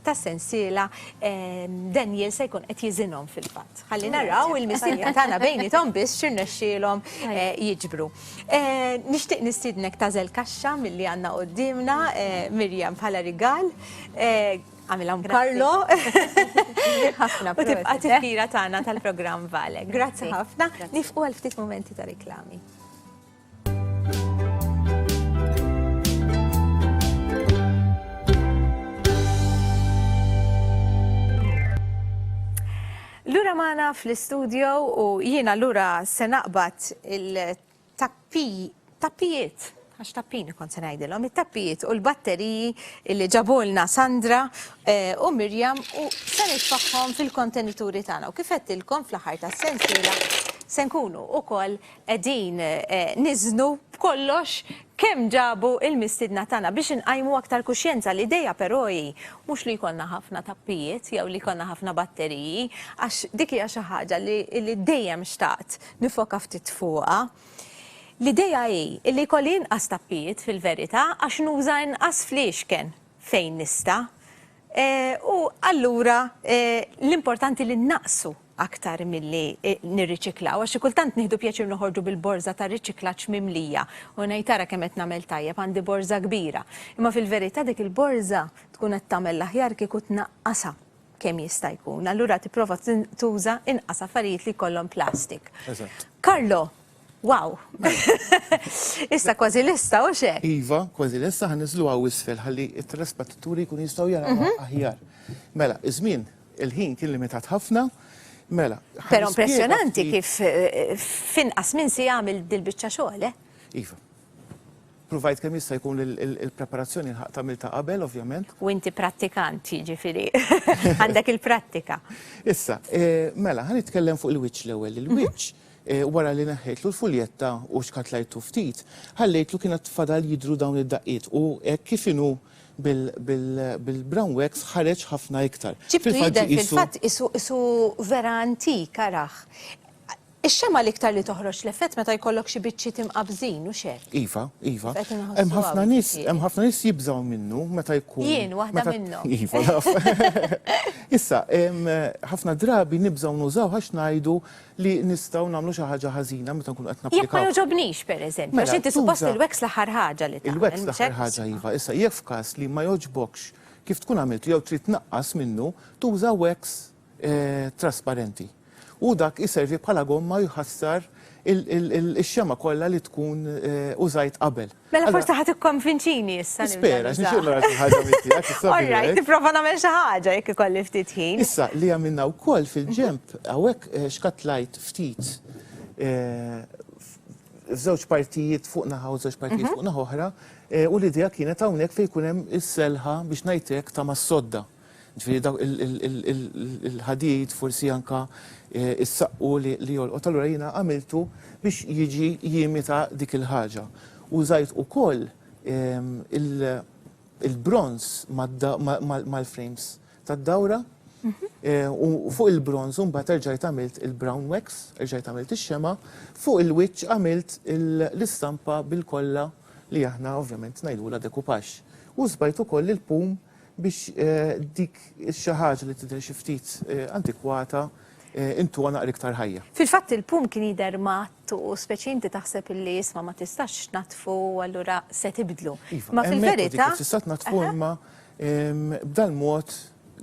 tas-sensiela Daniel se jkun qed jiżinhom fil-fatt. Ħalli naraw il-mistiedna tagħna bejniethom biss x'irnexxielhom jiġbru. Nixtieq nistiednek tażel kaxxa milli għandna quddiemna Mirjam bħala rigal. Għamilha Karlo. Ħafna. U tibqa' tifkira tagħna tal-programm Vale. Grazzi ħafna. Nifqu għal ftit momenti ta' riklami. Lura magħna fl-istudio u jien allura se naqbad il-tappijiet, għax tappini kont se ngħidilhom, it-tappijiet u l-batteriji li ġabulna Sandra eh, u Mirjam u se nitfaħħom fil-kontenituri tagħna. U kif qedtilkom fl-aħħar tas-sensiela se nkunu ukoll qegħdin niżnu b'kollox kemm ġabu l-mistiedna tagħna biex inqajmu aktar kuxjenza. L-idea però hi mhux li jkollna ħafna tappijiet jew li jkollna ħafna batteriji għax dik hija xi ħaġa li dejjem xtaqt nifoka ftit fuqha. L-idea hi li jkolli inqas tappijiet fil-verità għax nuża inqas fliexken fejn nista'. U allura l-importanti li nnaqsu aktar milli nirriċiklaw għax xi kultant nieħdu pjaċir noħorġu bil-borża tar-riċiklaġġ mimlija u ngħid ara kemm qed nagħmel tajjeb għandi borża kbira. Imma fil-verità dik il-borża tkun qed tagħmel l-aħjar kieku tnaqqasha kemm jista' jkun. Allura tipprova tuża inqas affarijiet li jkollhom plastik. Carlo, Wow! Issa kważi lista, u xe? Iva, kważi lista ħan nizlu għaw isfel ħalli il-telespettatturi kun jistaw jaraw mhm. aħjar. Mela, iż-żmien Il-ħin kien limitat ħafna. Mela, ħa Però nispjega impressjonanti ftit- kif eh, f'inqas minn siegħa għamilt dil-biċċa xogħol, eh? Iva. Pruvajt kemm jista' jkun il- il- il-preparazzjoni nħaq tagħmilta qabel, ovvjament. U inti prattikant, jiġifieri għandek il-prattika. Issa, eh, mela, ħa nitkellem fuq il-wiċċ l-ewwel. Il-wiċċ eh, wara li neħħejtlu l-fuljetta u xkatlajtu ftit, ħallejtlu kienet fadal jidru dawn id-daqqiet u hekk kif inhu bil-brown wax ħareġ ħafna iktar. Ġibtu jidher fil-fatt qisu vera antik araħ. Ix-xemgħa l-iktar li toħroġ l-effett meta jkollok xi biċċiet imqabżin, hux hekk? Iva, iva. Hemm ħafna nies, hemm ħafna nies jibżgħu minnu meta jkun. Jien waħda minnhom. Iva, naf. Issa, ħafna drabi nibżgħu nużawh għax ngħidu li nistgħu nagħmlu xi ħaġa ħażina meta nkunu qed napplikaw. Jekk ma jogħġobnix, pereżempju, għax inti suppost il-wax l-aħħar ħaġa li tagħmel. Il-wax l-aħħar ħaġa iva, issa jekk f'każ li ma jogħġbokx kif tkun għamiltu jew trid tnaqqas minnu, tuża wax trasparenti. Hu dak iservi bħala gomma u jħassar ix-xemgħa kollha li tkun użajt qabel. Mela forsi ħa tikkonvinċini issa. Spera, għax nixtieq nara xi ħaġa minn tiegħek. All right, tipprova nagħmel xi ħaġa jekk ikolli ftit ħin. Issa li għamilna wkoll fil-ġenb hawnhekk xkattlajt ftit f'żewġ partijiet fuq naħa u żewġ partijiet fuq naħa oħra u l-idea kienet hawnhekk fejn jkun hemm is-selħa biex ngħid hekk ta' mas-sodda. Ġifieri dawk il-ħadid forsi anke s-saqqu li jolqot. Allura jiena għamiltu biex jiġi jimita dik il-ħaġa. Użajt ukoll il-bronż mal-frames tad-dawra u fuq il-bronż imbagħad erġajt għamilt il-brown wax, erġajt għamilt ix-xemgħa, fuq il-wiċċ għamilt l-istampa bil-kolla li aħna ovvjament ngħidulha decoupage. U żbajt ukoll il-pum biex dik xi ħaġa li tidher xi ftit antikwata intuha naqra iktar ħajja. Fil-fatt il-pum kien jidher matt u speċi inti taħseb illi isma' ma tistax tnaddfu u allura se tibdlu. Iva, ma fil-verità. Tista' tnaddfu imma b'dal-mod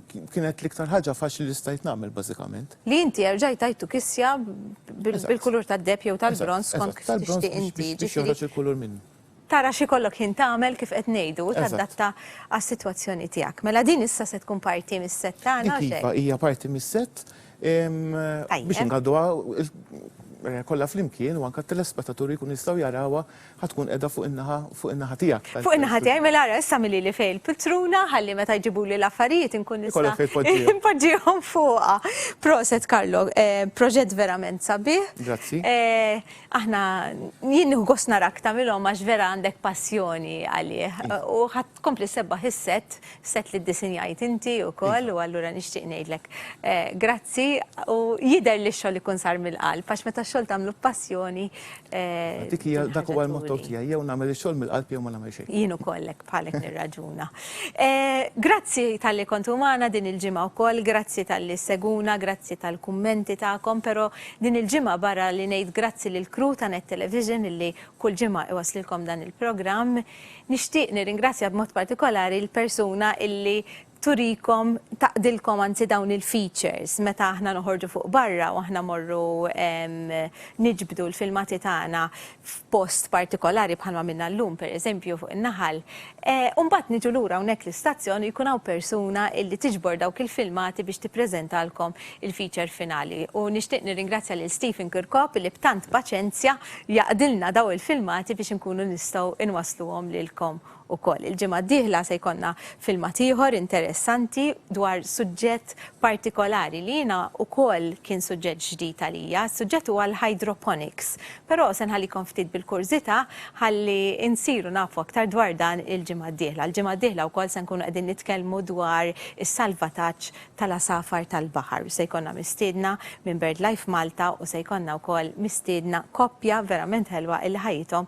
kienet l-iktar ħaġa faċli li stajt nagħmel bażikament. Li inti erġajt tajtu kisja bil-kulur tad-deheb jew tal-bronż skont kif tixtieq inti. Biex joħroġ il-kulur minnu. Tara x'ikollok ħin tagħmel kif qed ngħidu u tadatta għas-sitwazzjoni tiegħek. Mela din issa se tkun parti mis-sett tagħna hux hekk? Dik iva, hija parti mis-sett biex ingħadduha kollha flimkien u anke t-telespetaturi jkunu jistgħu jarawha ħa tkun qiegħda fuq in-naħa fuq in-naħa tiegħek. Fuq in-naħa tiegħi mela ara issa għamilili fejn il-piltruna ħalli meta jġibuli l-affarijiet inkun nista'. Ikollok fejn tpoġġihom. Npoġġihom fuqha. Proset Carlo, proġett verament sabiħ. Grazzi. Aħna, jien nieħu gost narak tagħmilhom għax vera għandek passjoni għalih. U ħadd tkompli sebbaħ is-set, set li ddisinjajt inti wkoll u allura nixtieq ngħidlek eh, grazzi u jidher li x-xogħol ikun sar mill-qalb għax meta x-xogħol tagħmlu b'passjoni. Eh, Dik hija dak huwa l-motto tiegħi, jew nagħmel ix-xogħol mill-qalb jew ma nagħmel xejn. Jien ukoll Bħalek nirraġuna. Grazzi tal-li kontu magħna din il-ġimgħa wkoll, grazzi tal-li seguna, grazzi tal-kummenti tagħkom, però din il-ġimgħa barra li ngħid grazzi lill-crew ta' Net Television illi kull ġimgħa iwasslilkom dan il-programm, nixtieq nirringrazzja b'mod partikolari l-persuna illi turikom, taqdilkom anzi dawn il-features meta aħna noħorġu fuq barra u aħna mmorru niġbdu l-filmati tagħna f'post partikolari bħal ma minna llum pereżempju fuq in-naħal. U mbagħad niġu lura hawnhekk l-istazzjon u jkun hawn persuna illi tiġbor dawk il-filmati biex tippreżentalkom il-feature finali. U nixtieq nirringrazzja lil Stephen Kirkop illi b'tant paċenzja jaqdilna daw il-filmati biex inkunu nistgħu inwassluhom lilkom Ukoll il-ġimgħa d-dieħla se jkollna filmat ieħor interessanti dwar suġġett partikolari li jiena ukoll kien suġġett ġdid għalija. Suġġett huwa l-hydroponics, però se nħallikom ftit bil-kurżità ħalli insiru nafu aktar dwar dan il-ġimgħa d-dieħla. Il-ġimgħa d-dieħla wkoll se nkunu qegħdin nitkellmu dwar is-salvataġġ tal-għasafar tal-baħar u se jkollna mistiedna minn BirdLife Malta u se jkollna wkoll mistiedna koppja verament ħelwa illi ħajjithom